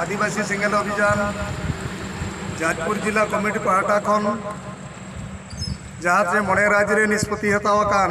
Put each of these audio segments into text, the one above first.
ᱟᱹᱫᱤᱵᱟᱹᱥᱤ ᱥᱮᱸᱜᱮᱞ ᱚᱵᱷᱤᱡᱟᱱ ᱡᱟᱡᱽᱯᱩᱨ ᱡᱤᱞᱟ ᱠᱚᱢᱤᱴᱤ ᱯᱟᱦᱴᱟ ᱠᱷᱚᱱ ᱡᱟᱦᱟᱸ ᱛᱮ ᱢᱚᱬᱮ ᱨᱟᱡᱽ ᱨᱮ ᱱᱤᱥᱯᱚᱛᱤ ᱦᱟᱛᱟᱣ ᱟᱠᱟᱱ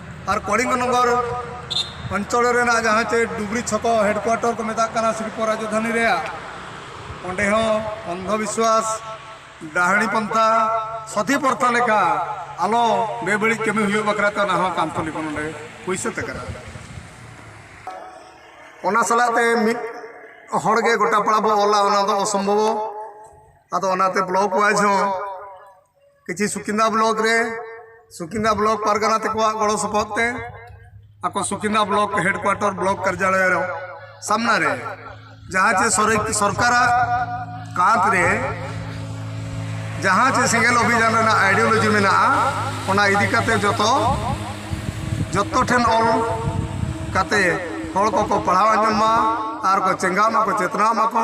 ᱟᱨ ᱠᱚᱲᱤᱝᱜᱚ ᱱᱚᱜᱚᱨ ᱚᱧᱪᱚᱞ ᱨᱮᱱᱟᱜ ᱡᱟᱦᱟᱸ ᱪᱮ ᱰᱩᱵᱽᱨᱤ ᱪᱷᱚᱠᱚ ᱦᱮᱰᱠᱩᱣᱟᱴᱚᱨ ᱠᱚ ᱢᱮᱛᱟᱜ ᱠᱟᱱᱟ ᱥᱤᱞᱯᱚ ᱨᱟᱡᱚᱫᱷᱟᱱᱤ ᱨᱮᱭᱟᱜ ᱚᱸᱰᱮ ᱦᱚᱸ ᱚᱱᱫᱷᱚ ᱵᱤᱥᱣᱟᱥ ᱰᱟᱦᱟᱲᱤ ᱯᱚᱱᱛᱷᱟ ᱥᱚᱛᱤ ᱯᱚᱨᱛᱷᱟ ᱞᱮᱠᱟ ᱟᱞᱚ ᱵᱮᱵᱟᱹᱲᱤᱡ ᱠᱟᱹᱢᱤ ᱦᱩᱭᱩᱜ ᱵᱟᱠᱷᱨᱟ ᱛᱮ ᱚᱱᱟ ᱦᱚᱸ ᱠᱟᱱᱛᱷᱚᱞᱤ ᱠᱚ ᱱᱚᱸᱰᱮ ᱦᱩᱭ ᱥᱟᱹᱛ ᱟᱠᱟᱱᱟ ᱚᱱᱟ ᱥᱟᱞᱟᱜ ᱛᱮ ᱢᱤᱫ ᱦᱚᱲ ᱜᱮ ᱜᱚᱴᱟ ᱯᱟᱲᱟ ᱵᱚ ᱚᱞᱟ ᱚᱱᱟ ᱫᱚ ᱚᱥᱚᱢᱵᱷᱚᱵᱚ ᱟᱫᱚ ᱚᱱᱟᱛᱮ ᱵᱞᱚᱠ ᱚᱣᱟᱭᱤᱡᱽ ᱦᱚᱸ ᱠᱤᱪᱷᱤ ᱥᱩᱠᱤᱱᱫᱟ ᱵᱞᱚᱠ ᱨᱮ ᱥᱩᱠᱤᱱᱫᱟ ᱵᱞᱚᱠ ᱯᱟᱨᱜᱟᱱᱟ ᱛᱮᱠᱚᱣᱟᱜ ᱜᱚᱲᱚ ᱥᱚᱯᱚᱦᱚᱫ ᱛᱮ ᱟᱠᱚ ᱥᱩᱠᱤᱱᱫᱟ ᱵᱞᱚᱠ ᱦᱮᱰᱠᱩᱣᱟᱴᱚᱨ ᱵᱞᱚᱠ ᱠᱟᱨᱡᱟᱞᱚᱭ ᱨᱮ ᱥᱟᱢᱱᱟ ᱨᱮ ᱡᱟᱦᱟᱸ ᱪᱮ ᱥᱚᱨᱠᱟᱨᱟᱜ ᱠᱟᱸᱛ ᱨᱮ ᱡᱟᱦᱟᱸ ᱪᱮ ᱥᱮᱸᱜᱮᱞ ᱚᱵᱷᱤᱡᱟᱱ ᱨᱮᱱᱟᱜ ᱟᱭᱰᱤᱭᱳᱞᱚᱡᱤ ᱢᱮᱱᱟᱜᱼᱟ ᱚᱱᱟ ᱤᱫᱤ ᱠᱟᱛᱮ ᱡᱚᱛᱚ ᱡᱚᱛᱚ ᱴᱷᱮᱱ ᱚᱞ ᱠᱟᱛᱮ ᱦᱚᱲ ᱠᱚᱠᱚ ᱯᱟᱲᱦᱟᱣ ᱟᱸᱡᱚᱢ ᱢᱟ ᱟᱨ ᱠᱚ ᱪᱮᱸᱜᱷᱟᱜ ᱢᱟᱠᱚ ᱪᱮᱛᱱᱟᱜ ᱢᱟᱠᱚ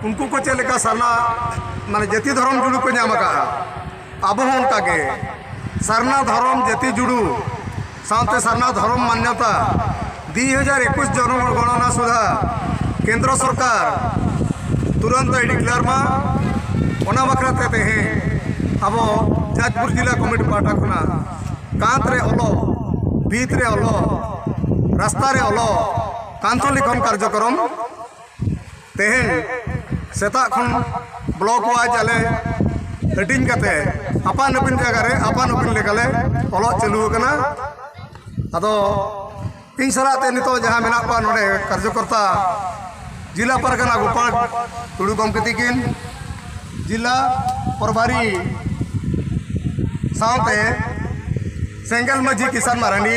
ᱩᱱᱠᱩ ᱠᱚ ᱪᱮᱫ ᱞᱮᱠᱟ ᱥᱟᱨᱱᱟ ᱢᱟᱱᱮ ᱡᱟᱹᱛᱤ ᱫᱷᱚᱨᱚᱢ ᱡᱩᱲᱩ ᱠᱚ ᱧᱟᱢ ᱟᱠᱟᱫᱼᱟ ᱟᱵᱚ ᱦᱚᱸ ᱚᱱᱠᱟ ᱜᱮ ᱥᱟᱨᱱᱟ ᱫᱷᱚᱨᱚᱢ ᱡᱟᱹᱛᱤ ᱡᱩᱲᱩ ᱥᱟᱶᱛᱮ ᱥᱟᱨᱱᱟ ᱫᱷᱚᱨᱚᱢ ᱢᱟᱱᱭᱚᱛᱟ ᱫᱩᱭ ᱦᱟᱡᱟᱨ ᱮᱠᱩᱥ ᱡᱚᱱᱚᱜᱚᱬᱱᱟ ᱥᱩᱫᱷᱟ ᱠᱮᱱᱫᱨ ᱥᱚᱨᱠᱟᱨ ᱛᱩᱨᱟᱱᱛ ᱟᱭ ᱰᱤᱠᱞᱟᱨ ᱢᱟ ᱚᱱᱟ ᱵᱟᱠᱷᱨᱟ ᱛᱮ ᱛᱮᱦᱮᱧ ᱟᱵᱚ ᱡᱟᱡᱽᱯᱩᱨ ᱡᱮᱞᱟ ᱠᱚᱢᱤᱴᱤ ᱯᱟᱦᱴᱟ ᱠᱷᱚᱱᱟᱜ ᱠᱟᱸᱛ ᱨᱮ ᱚᱞᱚᱜ ᱵᱷᱤᱛ ᱨᱮ ᱚᱞᱚᱜ ᱨᱟᱥᱛᱟ ᱨᱮ ᱚᱞᱚᱜ ᱠᱟᱱᱛᱷᱚ ᱞᱤᱠᱷᱚᱱ ᱠᱟᱨᱡᱚᱠᱨᱚᱢ ᱛᱮᱦᱮᱧ ᱥᱮᱛᱟᱜ ᱠᱷᱚᱱ ᱵᱞᱚᱠ ᱣᱟᱭᱤᱡ ᱟᱞᱮ ᱦᱟᱹᱴᱤᱧ ᱠᱟᱛᱮ ᱟᱯᱟᱱ ᱟᱹᱯᱤᱱ ᱡᱟᱭᱜᱟ ᱨᱮ ᱟᱯᱟᱱ ᱟᱹᱯᱤᱱ ᱞᱮᱠᱟᱞᱮ ᱚᱞᱚᱜ ᱪᱟᱹᱞᱩ ᱟᱠᱟᱱᱟ ᱟᱫᱚ ᱤᱧ ᱥᱟᱞᱟᱜ ᱛᱮ ᱱᱤᱛᱚᱜ ᱡᱟᱦᱟᱸ ᱢᱮᱱᱟᱜ ᱠᱚᱣᱟ ᱱᱚᱰᱮ ᱠᱟᱨᱡᱚᱠᱚᱨᱛᱟ ᱡᱮᱞᱟ ᱯᱟᱨᱜᱟᱱᱟ ᱜᱳᱯᱟᱞ ᱴᱩᱰᱩ ᱜᱚᱢᱠᱮ ᱛᱤᱠᱤᱱ ᱡᱮᱞᱟ ᱯᱨᱚᱵᱷᱟᱨᱤ ᱥᱟᱶᱛᱮ ᱥᱮᱸᱜᱮᱞ ᱢᱟᱹᱡᱷᱤ ᱠᱤᱥᱟᱱ ᱢᱟᱨᱟᱱᱰᱤ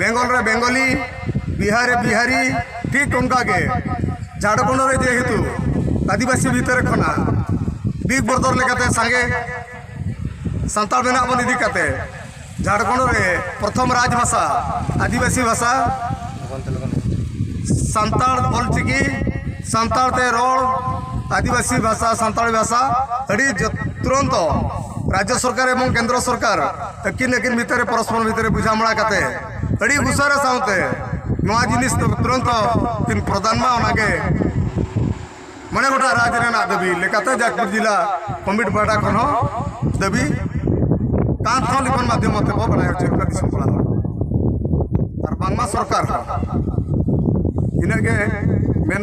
ᱵᱮᱝᱜᱚᱞ ᱨᱮ ᱵᱮᱝᱜᱚᱞᱤ ᱵᱤᱦᱟᱨ ᱨᱮ ᱵᱤᱦᱟᱨᱤ ᱴᱷᱤᱠ ᱚᱱᱠᱟ ᱜᱮ ᱡᱷᱟᱲᱠᱷᱚᱸᱰ ᱨᱮ ᱡᱮᱦᱮᱛᱩ ᱟᱹᱫᱤᱵᱟᱹᱥᱤ ᱵᱷᱤᱛᱟᱹᱨ ᱠᱷᱚᱱᱟᱜ ᱵᱤᱜᱽ ᱵᱨᱚᱫᱚᱨ ᱞᱮᱠᱟᱛᱮ ᱥᱟᱸᱜᱮ ᱥᱟᱱᱛᱟᱲ ᱢᱮᱱᱟᱜ ᱵᱚᱱ ᱤᱫᱤ ᱠᱟᱛᱮ ᱡᱷᱟᱲᱠᱷᱚᱸᱰ ᱨᱮ ᱯᱨᱚᱛᱷᱚᱢ ᱨᱟᱡᱽ ᱵᱷᱟᱥᱟ ᱟᱹᱫᱤᱵᱟᱹᱥᱤ ᱵᱷᱟᱥᱟ ᱥᱟᱱᱛᱟᱲ ᱚᱞᱪᱤᱠᱤ ᱥᱟᱱᱛᱟᱲ ᱛᱮ ᱨᱚᱲ ᱟᱹᱫᱤᱵᱟᱹᱥᱤ ᱵᱷᱟᱥᱟ ᱥᱟᱱᱛᱟᱲᱤ ᱵᱷᱟᱥᱟ ᱟᱹᱰᱤ ᱛᱩᱨᱚᱱᱛᱚ ᱨᱟᱡᱽᱡᱚ ᱥᱚᱨᱠᱟᱨ ᱮᱵᱚᱝ ᱠᱮᱱᱫᱨᱚ ᱥᱚᱨᱠᱟᱨ ᱟᱹᱠᱤᱱ ᱟᱹᱠᱤᱱ ᱵᱷᱤᱛᱟᱹᱨ ᱨᱮ ᱯᱚᱨᱚᱥᱯᱚᱨ ᱵᱷᱤᱛᱟᱹᱨ ᱨᱮ ᱵᱩᱡᱷᱟᱢᱲᱟ ᱠᱟᱛᱮ ᱟᱹᱰᱤ ᱩᱥᱟᱹᱨᱟ ᱥᱟᱶᱛᱮ ᱱᱚᱣᱟ ᱡᱤᱱᱤᱥ ᱫᱚ ᱛᱩᱨᱟᱹᱱᱛ ᱠᱤᱱ ᱯᱨᱚᱫᱟᱱ ᱢᱟ ᱚᱱᱟᱜᱮ ᱢᱚᱬᱮ ᱜᱚᱴᱟ ᱨᱟᱡᱽ ᱨᱮᱱᱟᱜ ᱫᱟᱹᱵᱤ ᱞᱮᱠᱟᱛᱮ ᱡᱟᱡᱽᱯᱩᱨ ᱡᱮᱞᱟ ᱠᱚᱢᱤᱴ ᱯᱟᱦᱴᱟ ᱠᱷᱚᱱ ᱦᱚᱸ ᱫᱟᱹᱵᱤ ᱠᱟᱱ ᱛᱷᱚ ᱞᱤᱠᱷᱚᱱ ᱢᱟᱫᱽᱫᱷᱚᱢ ᱛᱮ ᱵᱚ ᱵᱟᱲᱟᱭ ᱦᱚᱪᱚ ᱠᱟᱱᱟ ᱫᱤᱥᱚᱢ ᱠᱚᱲᱟ ᱦᱚᱲ ᱟᱨ ᱵᱟᱝᱢᱟ ᱥᱚᱨᱠᱟᱨ ᱦᱚᱸ ᱤᱱᱟᱹᱜ ᱜᱮ ᱢᱮᱱ